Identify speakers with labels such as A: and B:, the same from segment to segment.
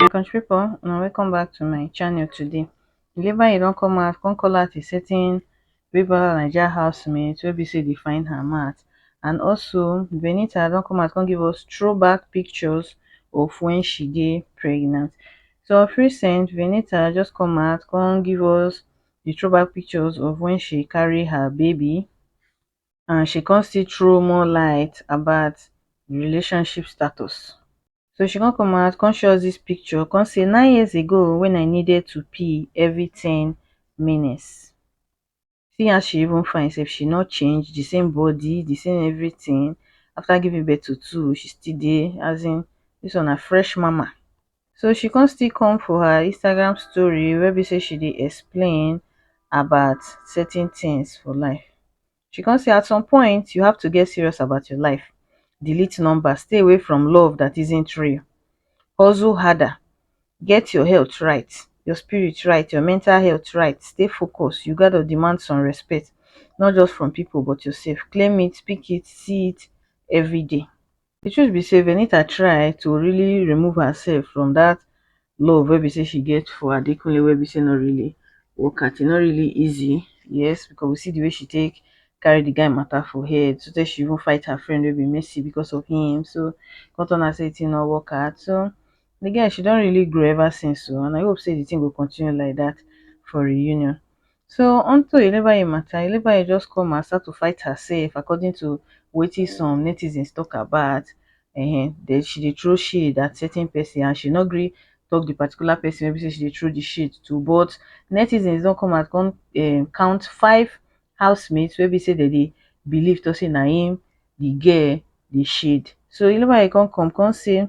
A: my country people una welcome back to my channel today Delivery don come out come call out a certain Big Brother Naija housemate wey be say dey find her mat and also Benita don come out come give us throwback pictures of when she dey pregnant so of recent Benita just come out come give us dey throw back pictures of when she carry her baby and she come still throw more light about the relationship status. So she come come out, come show us this picture, come say nine years ago when I needed to pee every 10 minutes. See how she even find herself, she not change, the same body, the same everything. After giving birth to two, she still dey as in this one a fresh mama. so she come still come for her Instagram story wey be say she dey explain about certain things for life she come say at some point you have to get serious about your life delete number stay away from love that isn't real hustle harder get your health right your spirit right your mental health right stay focused you gotta demand some respect not just from people but yourself claim it speak it see it everyday the truth be sey venita try to really remove herself from that love wey be sey she get for adekunle wey be sey no really work out e no really easy yes because we see the way she take carry the guy matter for head so tey she even fight her friend wey be mercy because of him so come turn out sey the thing no work out so the girl she don really grow ever since o and i hope sey the thing go continue like that for reunion So onto Elebaye mata, Elebaye just come and start to fight herself according to wetin some netizens talk about um that she dey throw shade at certain person and she no gree talk the particular person wey be say she dey throw the shade to but netizens don come out come um count five housemates wey be say dem dey believe talk say na im the girl dey shade. So Elebaye come come come say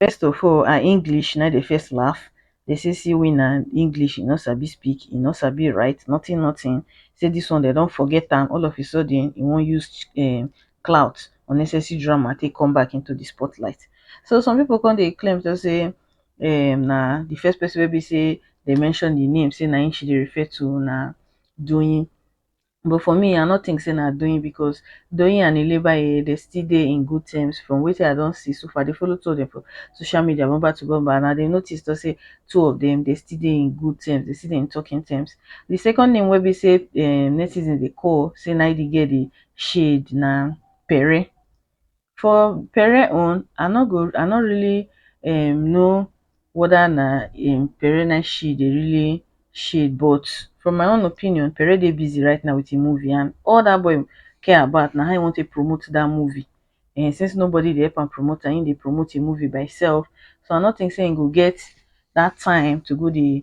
A: First of all, her English na the first laugh. They say see winner English, he no sabi speak, he no sabi write, nothing, nothing. Say this one they don't forget am. All of a sudden, he won't use um, clout, unnecessary drama, take come back into the spotlight. So some people come they claim to say, um, na the first person will be say they mention the name, say na she they refer to na doing but for me i no tink say na doyin becos doyin and ilebaye dey still dey in good terms from wetin i don see so far i dey follow two of dem for social media bumper to bumper and i dey notice tok say two of dem dey still dey in good terms dey still dey in talking terms di second name wey be say um netizens dey call say na im di girl dey shade na pere For pere own, I no go I no really um know weda na im pere na she dey really shade but from my own opinion, pere dey busy right now with im movie and all dat boy care about na how im wan take promote dat movie um since nobody dey help am promote am, im dey promote im movie by im self so I no think sey im go get dat time to go dey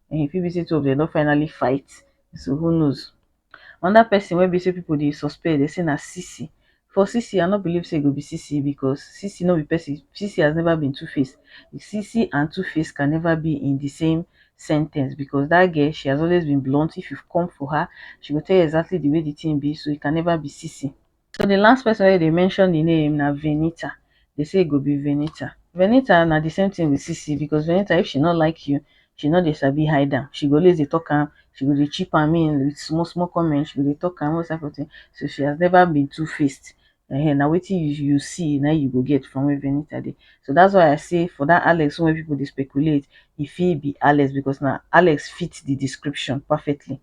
A: e fit be sey two of dem don finally fight so who knows. Another person wey be sey people dey suspect dey say na Sisi, for Sisi I no believe sey e go be Sisi because Sisi no be person, Sisi has never been two face, Sisi and two face can never be in the same sen ten ce because dat girl she has always been blunt if you come for her she go tell you exactly the way the thing be so it can never be Sisi. So di last person wey dey mention di name na Venita, dey say e go be Venita. Venita na di same thing with Sisi because Venita if she no like you, she no dey sabi hide am, she go always dey talk am, she go dey chip am in with small small comment, she go dey talk am, all those type of thing, so she has never been two faced, um na wetin you see na im you go get from where Venita dey. So that's why I say for that Alex own wey people dey speculate, e fit be Alex because na Alex fit di description perfectly.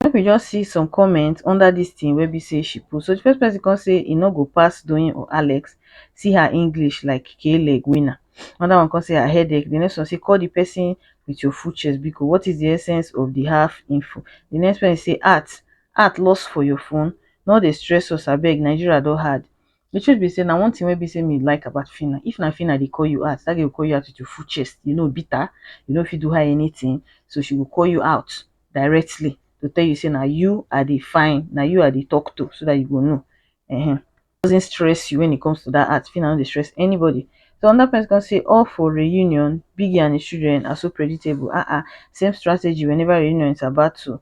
A: Make we just see some comment under dis thing wey be say she post. So the first person come say e no go pass Doyin or Alex, see her English like k-leg winner. Another one come say her headache. The next one say call the person with your full chest biko. What is the essence of the half info? The next person say art, art lost for your phone? No dey stress us abeg, Nigeria don hard. The truth be say na one thing wey be say me like about Phyna, if na Phyna dey call you out, that girl go call you out with your full chest, you no bitter, you no fit do her anything, so she go call you out directly to tell you say na you I dey find, na you I dey talk to so that you go know. Uh-huh. Doesn't stress you when it comes to that art, Phyna no dey stress anybody. So another person can say, all for reunion, Biggie and his children are so predictable, uh-uh, same strategy whenever reunion is about to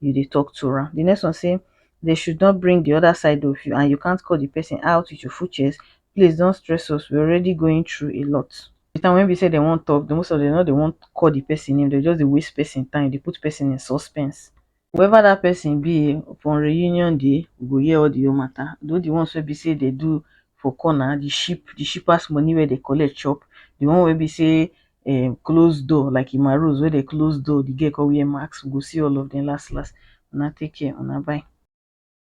A: you dey talk to am. Di next one sey dey should not bring di other side of you and you can't call di person out with your full chest, please don't stress us we are already going through a lot. Di time wey be sey dem wan talk, most of dem no dey wan call di person name, dem go just dey waste person time, dey put person in suspense. Whoever dat person be um for reunion day, we go hear all di whole matter, though di ones wey be sey dem do for corner, di ship, di shippers money wey dem collect chop, di one wey be sey um close door like in my rooms wey dey close door the girl come wear mask we go see all of them las las una take care una bye